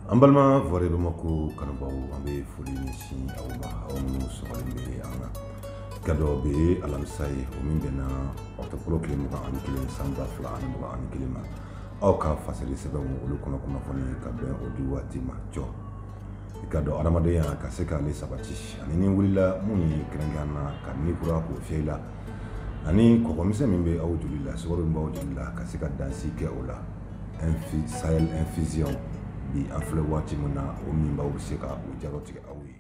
an balima vɔre bamako kanubaaw an bɛ foli ɲɛsin aw ma aw minnu sɔgɔlen bɛ an na i k'a dɔn bi ye alamisa ye o min bɛnna ɔtɔburu tile mugan ani kelen san ba fila ani mugan ani kelen ma aw ka fasiri sɛbɛnw olu kɔnɔ kunnafoni ka bɛn o di waati ma jɔ i k'a dɔn adamadenya ka se k'ale sabati ani ni wulila minnu ye kɛrɛnkɛrɛn na ka ni kura k'o fiyɛ i la ani kɔgɔ misɛn min bɛ aw joli la sukaro min b'aw joli la ka se ka dansigi kɛ o la infi sahel infusion bi an filɛ waati min na o minbaw bɛ se ka o jalatigɛ aw ye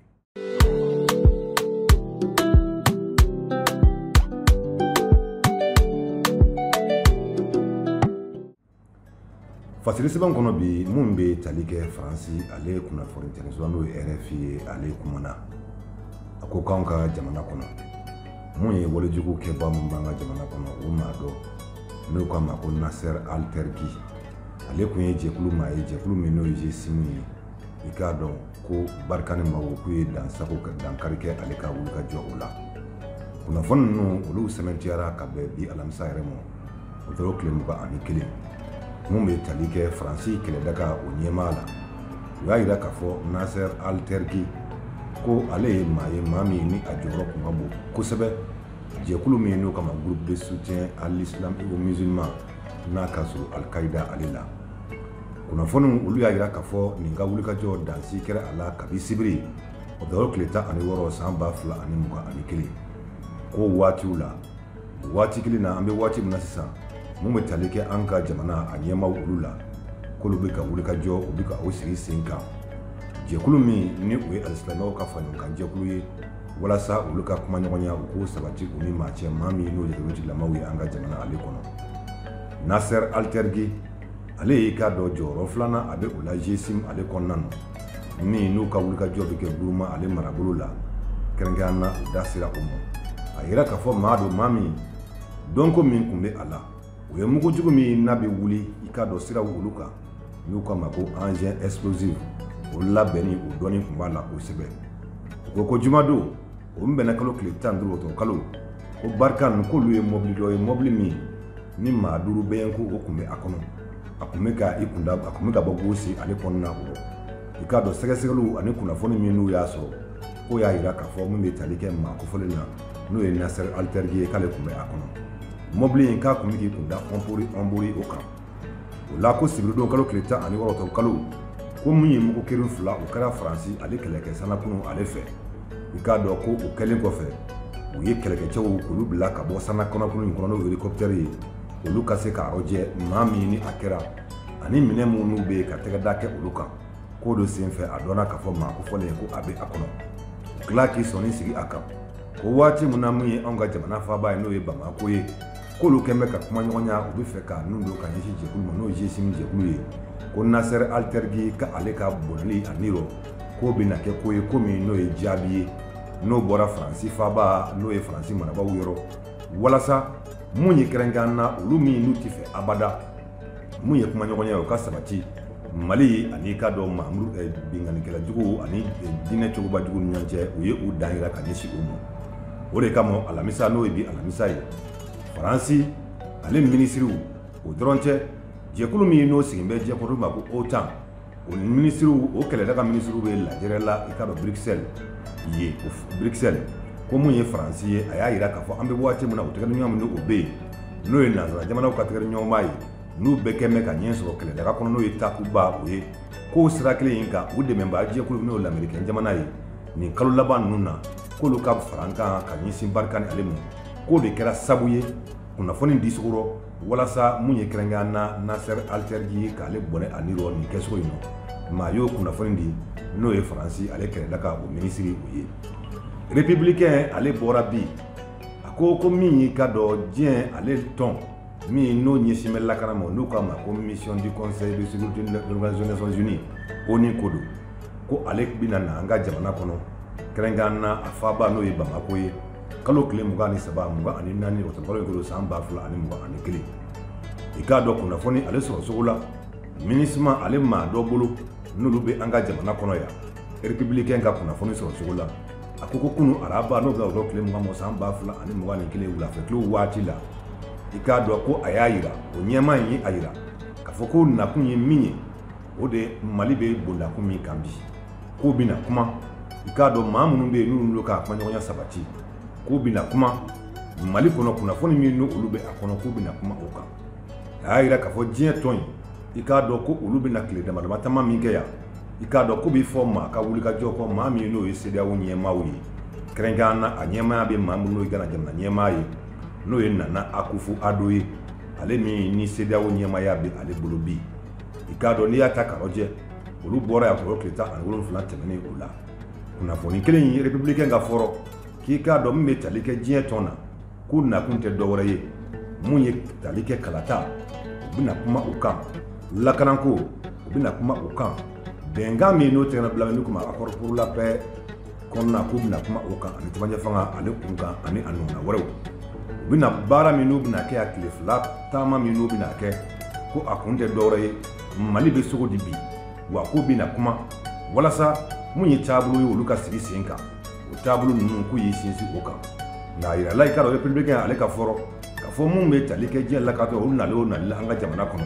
fasiri sɛbɛn kɔnɔ bi minnu bɛ tali kɛ faransi ale ye kunnafoni tɛmɛsira n'o ye rfi ye ale kumana a ko k'anw ka jamana kɔnɔ mun ye walejugu kɛba min b'an ka jamana kɔnɔ o maa dɔ n'u k'a ma ko nasser altergi ale tun ye jɛkulu maa ye jɛkulu min n'o ye jesimu ye i k'a dɔn ko barkhane maaw ko k'u ye dansago ka dankari kɛ ale ka wuli ka jɔ o la kunnafoni ninnu olu sɛmɛntiyara ka bɛn bi alamisa yɛrɛ ma ɔtɔburu tile mugan ani kelen min bɛ tali kɛ faransi kɛlɛdaga o ɲɛmaa la u y'a jira k'a fɔ nasser altergi ko ale ye maa ye maa min ni a jɔyɔrɔ tun ka bon kosɛbɛ jɛkulu min n'u k'a ma groupe de soutien à l'islam et aux musulmans n'a ka surun alikaida ale la kunnafoniw olu y'a jira k'a fɔ nin ka wulikajɔ dansigi kɛra a la kabi sibiri ɔtɔburu tile tan ani wɔɔrɔ san ba fila ani mugan ani kelen ko waatiw la waati kelen na an bɛ waati min na sisan min bɛ tali kɛ an ka jamana a ɲɛmaaw olu la k'olu bɛ ka wulikajɔ u bɛ ka o sigi sen kan jɛkulu min ni o ye alisilamɛw ka faraɲɔgɔnkan jɛkulu ye walasa olu ka kuma ɲɔgɔnya u k'o sabati u ni maaw cɛ maa min n'o ye rebetigilamaw ye an ka jamana ale kɔnɔ nasser altergi ale i k'a dɔn jɔyɔrɔ filanan a bɛ o la jesim ale kɔnɔna na min n'u ka wulikajɔ bɛ kɛ guruma ale marabolo la kɛrɛnkɛrɛn na u da sera o ma a yira k'a fɔ maa don maa min dɔnko min tun bɛ a la o ye mugu jugu min n'a bɛ wuli i k'a dɔn siraw olu kan n'u k'a ma ko engin explosif o labɛnni o dɔnni tun b'a la kosɛbɛ u ko ko jumadon o min bɛnna kalo tile tan duuru ɔtɔburu kalo ko barkhane k'olu ye mɔbili dɔ ye mɔbili min ni maa duuru bɛ yen ko o tun bɛ a kɔnɔ a tun bɛ ka i kunda a tun bɛ ka bɔ gosi ale kɔnɔna o i k'a dɔn sɛgɛsɛgɛliw ani kunnafoni min n'u y'a sɔrɔ k'o y'a jira k'a fɔ min bɛ tali kɛ maa kofɔlen na n'o ye nasser altergi ye k'ale tun bɛ a kɔnɔ mɔbili in k'a tun bɛ k'i kun da ɔnbori ɔnbori o kan o la ko sibiridon kalo tile tan ani wɔɔrɔ ɔkutɔburu kalo ko min ye mugu kiri fila o kɛra faransi ale kɛlɛkɛ sanakunu ale fɛ i k'a dɔn ko o kɛlen kɔfɛ u ye kɛlɛkɛcɛw k'olu bila ka bɔ sana kɔnɔkulu in kɔnɔ n'o helikɔpitɛri ye olu ka se k'a rɔjɛ maa min ni a kɛra ani minɛn minnu bɛ yen ka tɛgɛ da kɛ olu kan k'o de senfɛ a dɔnna k'a fɔ maa kofɔlen in ko a bɛ a kɔnɔ u tila k'i sɔnni sigi a kan ko waati min na min ye anw ka jamana faaba ye n'o ye bamakɔ ye k'olu kɛn bɛ ka kumaɲɔgɔnya u bɛ fɛ ka nun don ka ɲɛsin jɛkulu ma n'o ye gsim jɛkulu ye ko nasɛrɛ alitɛrigi k'ale ka bɔnɛli a nirɔ k'o bɛna kɛ ko ye ko min n'o ye jaabi ye n'o bɔra faransi faaba n'o ye faransi marabaaw yɔrɔ walasa mun ye kɛrɛnkɛrɛn na olu min n'u tɛ fɛ abada mun ye kumaɲɔgɔnya ye o ka sabati mali ani i k'a dɔn mamudu eh, binkannikɛla juguw ani eh, diinɛ cogoba jugu ni ɲɔgɔn cɛ u ye u dan yira ka ɲɛsin o ma o de kama alamisa n'o ye bi alamisa ye faransi ale minisiriw o dɔrɔn cɛ jɛkulu min n'o sigin bɛ jɛkulu ma ko otan o minisiriw o kɛlɛdaga minisiriw bɛ lajɛrɛ la i k'a dɔn burukisɛli ye burukisɛli ko mun ye faransi ye a y'a jira k'a fɔ an bɛ waati min na u tɛgɛdiɲɔgɔnma min o bɛ yen n'o ye nansara jamanaw ka tɛgɛdiɲɔgɔnma ye n'u bɛɛ kɛn bɛ ka ɲɛ sɔrɔ kɛlɛdaga kɔnɔ n'o ye takuba o ye k'o sira kelen in kan u dɛmɛbaa jɛkulu n'o lamerikɛn jamana ye nin kalo laban ninnu na k'olu ka farankan ka ɲɛsin barikani ale ma k'o de kɛra sabu ye kunnafoni di cogo rɔ walasa mun ye kɛrɛnkɛrɛn na nasser aliterji ye k'ale bɔnɛ a nirɔ nin kɛcogo in nɔ maa y'o kunnafoni di n'o ye faransi ale kɛlɛdaga o minisiri o ye republicain ale bɔra bi a ko ko min y'i k'a dɔn diɲɛ ale tɔn min n'o ɲɛsin bɛ lakana ma n'u k'a ma ko mission du conseil de sécurité de l'organisation des nations unies onu ko don ko ale bɛna na an ka jamana kɔnɔ kɛrɛnkɛrɛn na a faaba n'o ye bamako ye kalo tile mugan ni saba mugan ani naani ɔkutɔburu kalo san ba fila ani mugan ani kelen i k'a dɔn kunnafoni ale sɔrɔ cogo la minusma ale maa dɔ bolo n'olu bɛ an ka jamana kɔnɔ yan republicain ka kunnafoni sɔrɔ cogo la a ko ko kunu araba n'o bɛn ɔkutɔburu tile mugan mɔ san ba fila ani mugan ni kelen wulafɛ tile waati la i k'a dɔn ko a y'a yira o ɲɛmaa in ye a yira k'a fɔ k'u nakun ye min ye o de mali bɛ bondakun min kan bi k'u bɛna kuma i k'a dɔn maa minnu bɛ yen n'u don k'a kumaɲɔgɔnya sabati k'u bɛna kuma mali kɔnɔ kunnafoni min n' olu bɛ a kɔnɔ k'u bɛna kuma o kan a y'a jira k'a fɔ diɲɛ tɔn in i k'a dɔn ko olu bɛna tile damadama taama min kɛ yan i k'a dɔn ko bɛ fɔ maa ka wulikajɔ kɔ maa min n'o ye cedeao ɲɛmaaw ye kɛrɛnkɛrɛn na a ɲɛmaaya bɛ maa min n'o ye gana jamana ɲɛmaa ye n'o ye nana akufo addo ye ale min ni cedeao ɲɛmaaya bɛ ale bolo bi i k'a dɔn n'i y'a ta k'a lajɛ olu bɔra yan kɔrɔ tile tan ani wolonfila tɛmɛnen o la kunnafoni kelen in republicain ka fɔ rɔ k'i k'a dɔn min bɛ tali kɛ diɲɛ tɔn na k'u nakun tɛ dɔwɛrɛ ye mun ye tali kɛ kalata u bɛna kuma u kan lakananko u bɛna kuma u kan bɛnkan min n'o tɛgɛnɔ bila min kuma accord pour la paix kɔnɔna k'u bɛna kuma o kan ani cɛmancɛ fanga ale kunkan ani a ɲɔgɔnna wɛrɛw u bɛna baara min n'u bɛna kɛ yan tile fila taama min n'u bɛna kɛ ko a kun tɛ dɔwɛrɛ ye mali bɛ cogo di bi wa k'u bɛna kuma walasa mun ye taabolo ye olu ka sigi sen kan o taabolo ninnu k'u y'i sinsin o kan nka a yirala i k'a dɔn republikɛn ale ka fɔ rɔ k'a fɔ mun bɛ tali kɛ diɲɛ lakanatɔn olu nalen o nali la an ka jamana kɔnɔ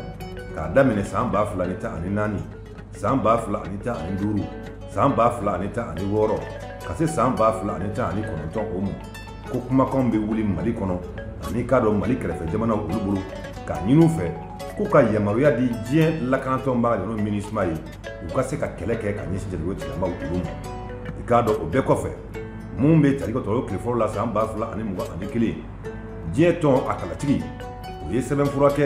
k'a daminɛ san ba fila ni tan ani naani san ba fila ani tan ani duuru san ba fila ani tan ani wɔɔrɔ ka se san ba fila ani tan ani kɔnɔntɔn o ma ko kumakanw bɛ wuli mali kɔnɔ ani k'a dɔn mali kɛrɛfɛ jamanaw olu bolo k'a ɲini u fɛ k'u ka yamaruya di diɲɛ lakanatɔnba yɔrɔ minisuma ye u ka se ka kɛlɛ kɛ ka ɲɛsin jatigɛko tigilamaw olu ma i k'a dɔn o bɛɛ kɔfɛ mun bɛ tali kɛ ɔkutɔburu tile fɔlɔ la san ba fila ani mugan ani kelen diɲɛ tɔn a kalatigi o ye sɛbɛnfura kɛ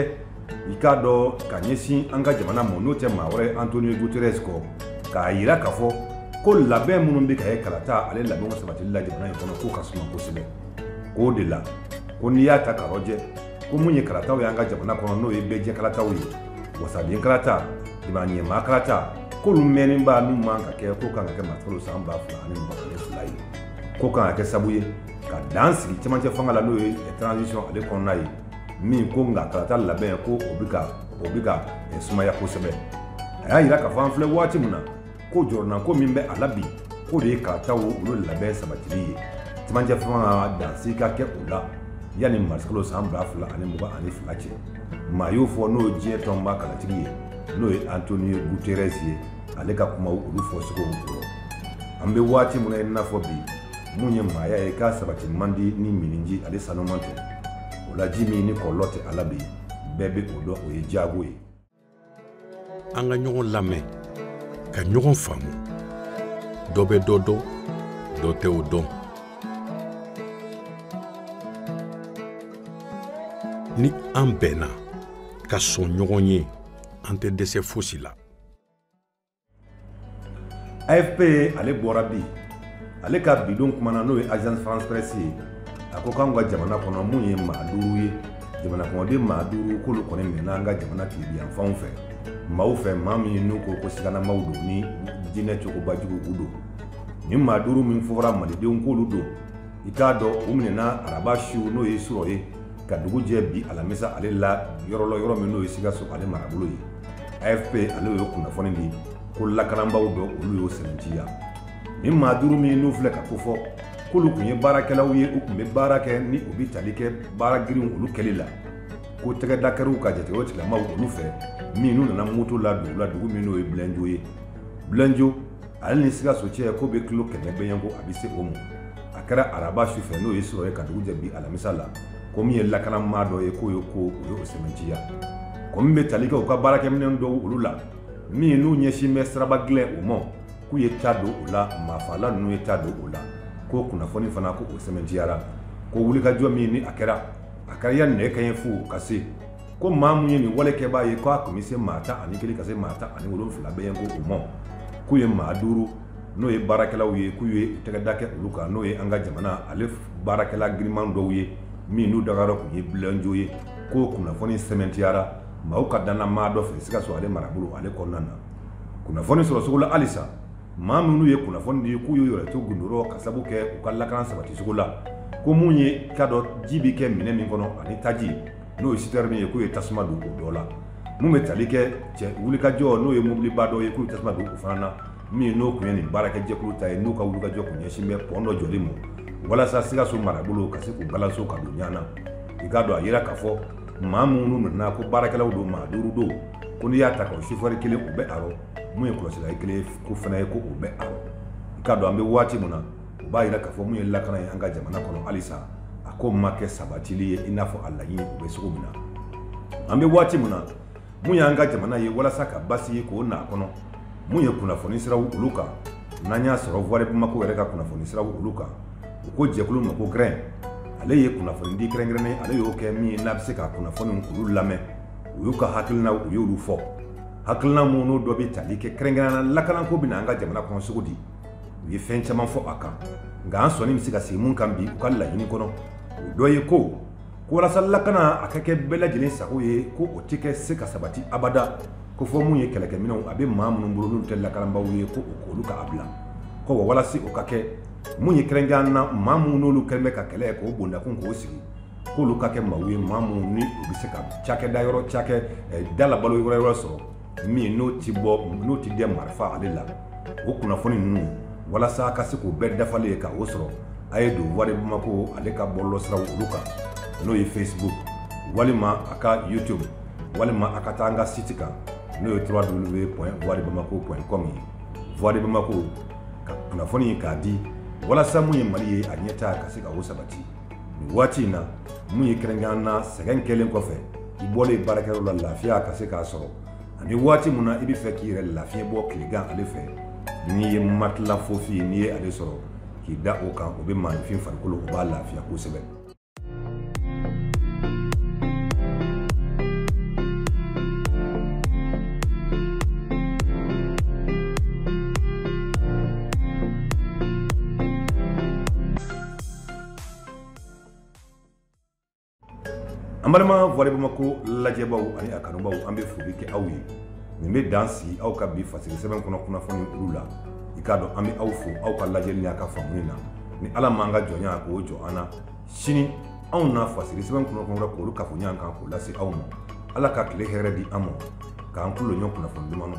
i k'a dɔn ka ɲɛsin an ka jamana ma n'o tɛ maa wɛrɛ antonio guterres kɔ k'a yira k'a fɔ ko labɛn minnu bɛ ka kɛ kalata ale labɛnw sabatili la jamana in kɔnɔ k'o ka suma kosɛbɛ k'o de la ko n'i y'a ta k'a lajɛ ko mun ye kalataw y'an ka jamana kɔnɔ n'o ye bɛɛjɛ kalataw ye wasaden kalata jamanaɲɛmaa kalata k'olu mɛnnen b'a n'u man ka kɛ k'o kan ka kɛ marisikalo san ba fila ani mugan ani fila ye k'o kan ka kɛ sabu ye ka dan sigi cɛmancɛ fanga la n'o ye transition ale kɔnɔna ye min ko nka kalata labɛn ko o bɛ ka o bɛ ka eh, sumaya kosɛbɛ a y'a yira k'a fɔ an filɛ waati min na ko jɔrɔnanko min bɛ a la bi k'o de ye kalataw olu labɛn sabatili ye cɛmancɛ fanga dansigi ka kɛ o la yanni marisikalo san ba fila ani mugan ani fila cɛ maa y'o fɔ n'o ye diɲɛ tɔnba kalatigi ye n'o ye antonio guterres ye ale ka kumaw olu fɔcogow kɔrɔ an bɛ waati min na i n'a fɔ bi mun ye maaya ye k'a sabatili man di ni minniji ale sanuman tɛ o la ji min ni kɔlɔlɔ tɛ a la bi bɛɛ bɛ o dɔn o ye diago ye an ka ɲɔgɔn lamɛn ka ɲɔgɔn faamu dɔ bɛ dɔ dɔn dɔ tɛ o dɔn ni an bɛnna ka sɔn ɲɔgɔn ye an tɛ dɛsɛ fosi la afp ale bɔra bi ale ka bi don kuma na n'o ye agence france presse ye a ko k'anw ka jamana kɔnɔ mun ye maa duuru ye jamana kɔnɔden maa duuru k'olu kɔni minɛna an ka jamana tilebinyanfanw fɛ maaw fɛ maa min ye n'u ko ko siganamaw don ni diinɛ cogoba juguw don nin maa duuru min fɔra malidenw k'olu don i k'a dɔn u minɛna araba su n'o ye surɔ ye ka dugu jɛ bi alamisa ale la yɔrɔ la yɔrɔ min n'o ye sikaso ale marabolo ye afp ale y'o kunnafoni di ko lakanabaw dɔ olu y'o sɛmɛntiya ni maa duuru min n'u filɛ ka kofɔ k'olu tun ye baarakɛlaw ye u tun bɛ baara kɛ ni o bɛ tali kɛ baara girinw olu kɛli la ko tɛgɛda kɛr'u kan jate o tigilamaw olu fɛ min n'u nana moto la dugu la dugu min n'o ye bilenjo ye bilenjo ale ni sikaso cɛ ko bɛ kilo kɛmɛ bɛ yen ko a bɛ se o ma a kɛra araba su fɛ n'o ye surɔ ye ka dugu jɛ bi alamisa la ko min ye lakana maa dɔ ye k'o ye ko u ye o sɛmɛntiya ko min bɛ tali kɛ u ka baarakɛminɛn dɔw olu la min n'u ɲɛsin bɛ siraba gilɛn o ma k'u ye ta don o la maafala ninnu ye ta don o la ko kunnafoni fana ko o sɛmɛntiyara ko wulikajɔ min ni a kɛra a kɛra ya nɛgɛ kanɲɛ fu ka se ko maa mun ye nin walekɛbaa ye k'a tun bɛ se maa tan ani kelen ka se maa tan ani wolonfila bɛ yen ko o ma k'u ye maa duuru n'o ye baarakɛlaw ye k'u ye tɛgɛda kɛ olu kan n'o ye an ka jamana ale baarakɛla giriman dɔw ye min n'u dagayɔrɔ tun ye bilenjo ye k'o kunnafoni sɛmɛntiyara maaw ka dannamaa dɔ fɛ sikaso ale marabolo ale kɔnɔna na kunnafoni sɔrɔ cogo la halisa maa minnu ye kunnafoni di k'u ye yɛrɛ to gundo rɔ ka sabu kɛ u ka lakana sabati cogo la ko mun ye ka dɔ ji bɛ kɛ minɛn min kɔnɔ ani taji n'o ye sitɛrini ye k'u ye tasuma don o dɔ la min bɛ tali kɛ cɛ wulikajɔ n'o ye mobiliba dɔ ye k'u ye tasuma don o fana na min n'o tun ye nin baarakɛjɛkulu ta ye n'u ka wulikajɔ kun ɲɛsin bɛ pɔn dɔ jɔli ma walasa sikaso marabolo ka se k'u balanso ka don ɲana i k'a dɔn a yira k'a fɔ maa minnu tununna ko baarakɛlaw don maa duuru don ko n'i y'a ta ka sofɛri kelen o bɛ a rɔ mun ye kɔlɔsila ye kelen ko fana ye ko o bɛ a rɔ i k'a dɔn an bɛ waati min na u b'a yira k'a fɔ mun ye lakana ye an ka jamana kɔnɔ halisa a ko ma kɛ sabatili ye i n'a fɔ a laɲini u bɛ cogo min na an bɛ waati min na mun y'an ka jamana ye walasa ka basigi k'o na kɔnɔ mun ye kunnafoni siraw olu kan n'an y'a sɔrɔ voix de bamako yɛrɛ ka kunnafoni siraw olu kan u ko jɛkulu ma ko grɛn ale ye kunnafoni di kɛrɛnkɛrɛnnen ale y'o kɛ min ye n'a bɛ se ka kunnafoni olu lamɛn u y'u ka hakilinaw u y'olu fɔ hakilina minnu n'o dɔ bɛ tali kɛ kɛrɛnkɛrɛnnenya la lakanako bɛ na an ka jamana kɔnɔ cogo di u ye fɛn caman fɔ a kan nka an sɔnni bɛ se ka sigi mun kan bi u ka laɲini kɔnɔ o dɔ ye ko ko walasa lakana a ka kɛ bɛɛ lajɛlen sago ye ko o tɛ kɛ se ka sabati abada ko fo mun ye kɛlɛkɛminɛnw a bɛ maa minnu bolo n'u tɛ lakanabaw ye ko o k'olu ka a bila ko wa walasa o ka kɛ mun ye kɛrɛnkɛrɛn na maa minnu n'olu kɛlen bɛ ka kɛlɛ k'o bondakun k'o sigi k'olu ka kɛ maaw ye maa minnu ni u bɛ se ka cakɛda yɔrɔ cakɛda la balo yɛrɛ yɛrɛ sɔrɔ min n'o tɛ bɔ n'o tɛ dɛn marifa ale la o kunnafoni ninnu walasa ka se k'u bɛɛ dafalen ye ka o sɔrɔ a ye don voix de bamako ale ka bɔlɔsiraw olu kan n'o ye fesibuku walima a ka youtube walima a ka taa an ka siti kan n'o ye trois double v point voix de bamako point com ye voix de bamako ka kunnafoni k'a di walasa min ye mali ye a ɲɛtaa ka se ka o sabati waati in na mun ye kɛrɛnkɛrɛnnenya na sɛgɛn kɛlen kɔfɛ i bɔlen baarakɛyɔrɔ la lafiya ka se k'a sɔrɔ ani waati min na i b'a fɛ k'i yɛrɛ lafiɲɛ bɔ tilegan ale fɛ n'i ye matila fofi ye n'i ye ale sɔrɔ k'i da o kan o bɛ maaninfin farikolo o b'a lafiya kosɛbɛ an balima voix de bamako lajɛbaw ani a kanubaw an bɛ foli kɛ aw ye nin bɛ dan sigi aw ka bi fasiri sɛbɛn kɔnɔ kunnafoni olu la i k'a dɔn an bɛ aw fo aw ka lajɛli n'aw ka faamuni na ni ala m'an ka jɔnya ko jɔ an na sini anw na fasiri sɛbɛn kunnafoni wɛrɛ k'olu kafo ɲɔgɔn kan k'o lase aw ma ala ka tile hɛrɛ di an ma k'an tulo jɔ kunnafoni duman na